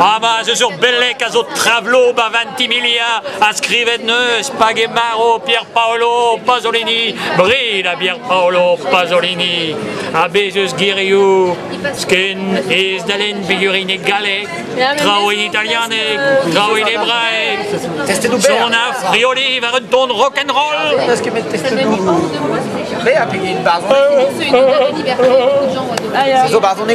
Ah bah, ce sur Belec a zo Travlo, Bavantimiglia, a skrivet neus, Pagemaro, Pierpaolo, Pasolini, bri la Pierpaolo, Pasolini, a bezus giriou, skin is dalen bigurine galleg, traoù in italianeg, traoù in hébraïque, son a frioli war un ton rock'n'roll. Parce que mes tests Mais appuyer une barre. C'est zo barre on est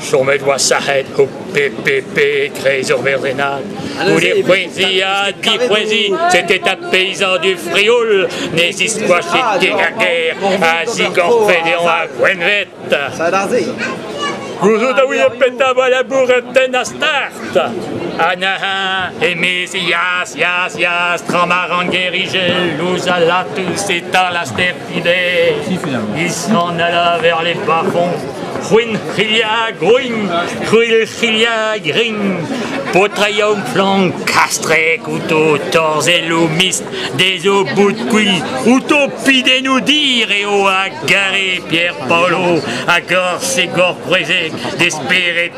chomet oa sac'het o PPP e-kreiz ur merdrenad. Goude poueziañ, dipoueziñ, c'était un paysan du Frioul, ne ziscoachit ket a guerre, a zigorfe dean a gwenvet. Gouzout a ouie petra oa laboureten a start. Anaha, emez ias, ias, ias, tramaran gerigel, louz a latus etan la step Il est en ala vers les bas-fonds. Ruin Chilia, Gruin, Ruil Chilia, Grin, Po triomph lan castrec outo torzellou mist dezo bout qui utopi de nous dire eo a gare Pierre Paolo a gorz e gorprezeg de speret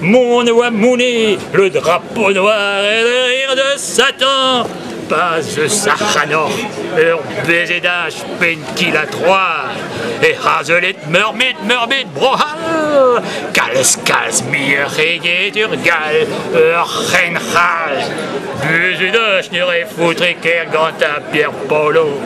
Mon e oa mounit le drapeau noir et le rire de Satan, pas eus Sac'hanor, ur bezedaj penn-kil-ha troad, e hazelet meurbet, meurbet Bro-C'hall, kalz-kalz muioc'h eget ur Gall, ur C'hen-C'hall. Buzudoj ne re foutre ker gant Pierre Polo.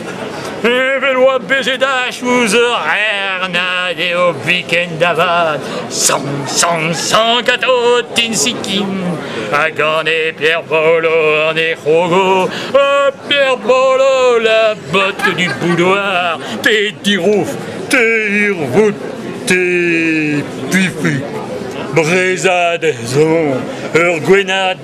Evel oa bezet ach ouz eur rernad eo biken da vad San, san, san kato tinsikin Ha gane Pierre Bolo an e c'hogo Ha Pierre Bolo la botte du boudoir Te dirouf, te irvout, te pifi Brezad zo eur gwenad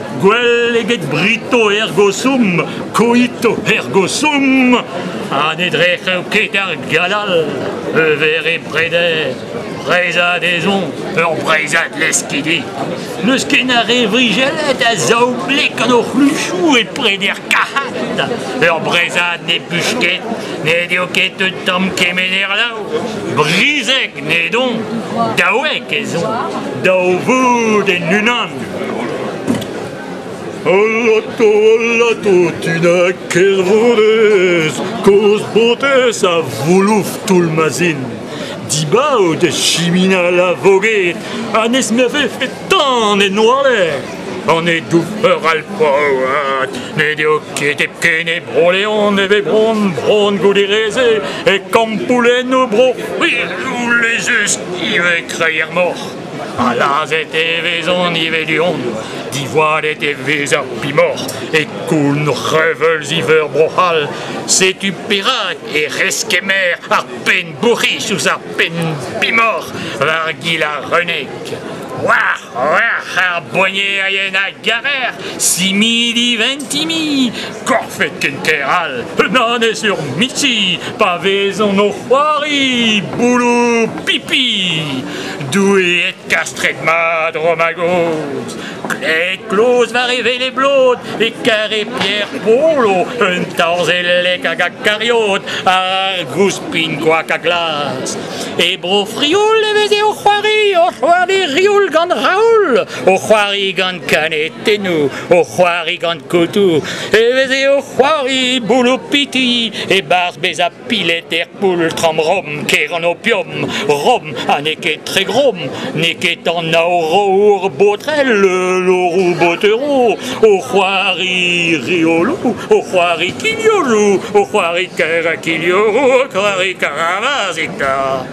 Gwell eget brito ergo sum, koito ergo sum, ha ne drec'h ket ar galal, e vere preder, breizad ezon, ur breizad leskidi. N'eus ken ar re vrijellet a zaoblek gant o c'hluchou e preder kahat. Ur breizad ne buch ket, ne deo ket un tamm kemener lau. Brizek ne don, daouek ezon, daou voud en unan. Alato, alato, tu n'as ket honnezh, kozh botez a voulouf toull ma zin. Dibaot e chiminal a voged, ha n'ez me vefe tan en oalez. An e-doufeur alpol ne deo ket hepken e Bro-Leon e ve bron, bron goude reze e kampoulennoù bro. Oui, les estive e kreier moc'h. Ha lazhet e vezont ivez du-hont. Divoalet e vez ar pimor e koun reveulz iveur Bro-C'hall. Setu perak e reskemer ar penn-bourc'his ouzh ar penn-pimor war gil ar renek. War, war, ar boignerien a garer, simidi ventimi, Korfet ken ker all, un annez ur miti, pa vezont o c'hoari boulou pipi. Doue kastret mat, Romagoz. Klet kloz war e vele blod, e kare Pierre Polo, un torzellek hag a kariot, ar gouspin goak a glas. E bro Frioul e veze o c'hoari, o c'hoari rioul gant Raoul, o c'hoari gant kanetennou, o c'hoari gant kotoù, e veze o c'hoari boulopiti, e-barzh bezañ pilet er poultr-am-rom, ker an opium, rom, ha n'eo ket tre grom, n'eo ket an aorour botrel, l'orour botero, o c'hoari riolou, o c'hoari kignolou, o c'hoari karakignolou, o c'hoari karavazita.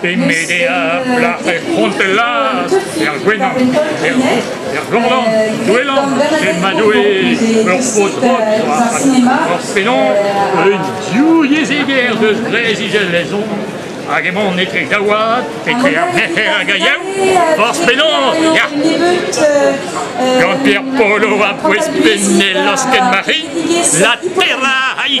Pe Medea, plac'h er c'hontellaz, er Gwenan, er Vro, er Glandan, Douelan, e Madoue, ur paotr-pod, ur fenon, un diouieziger deus Breizh-Izel-Lezon, hag emaon etre daouad, etre ar merc'her hag a Hor penaos, ya! Gant Pierre Polo a pouez penel losken Marie, la terra a i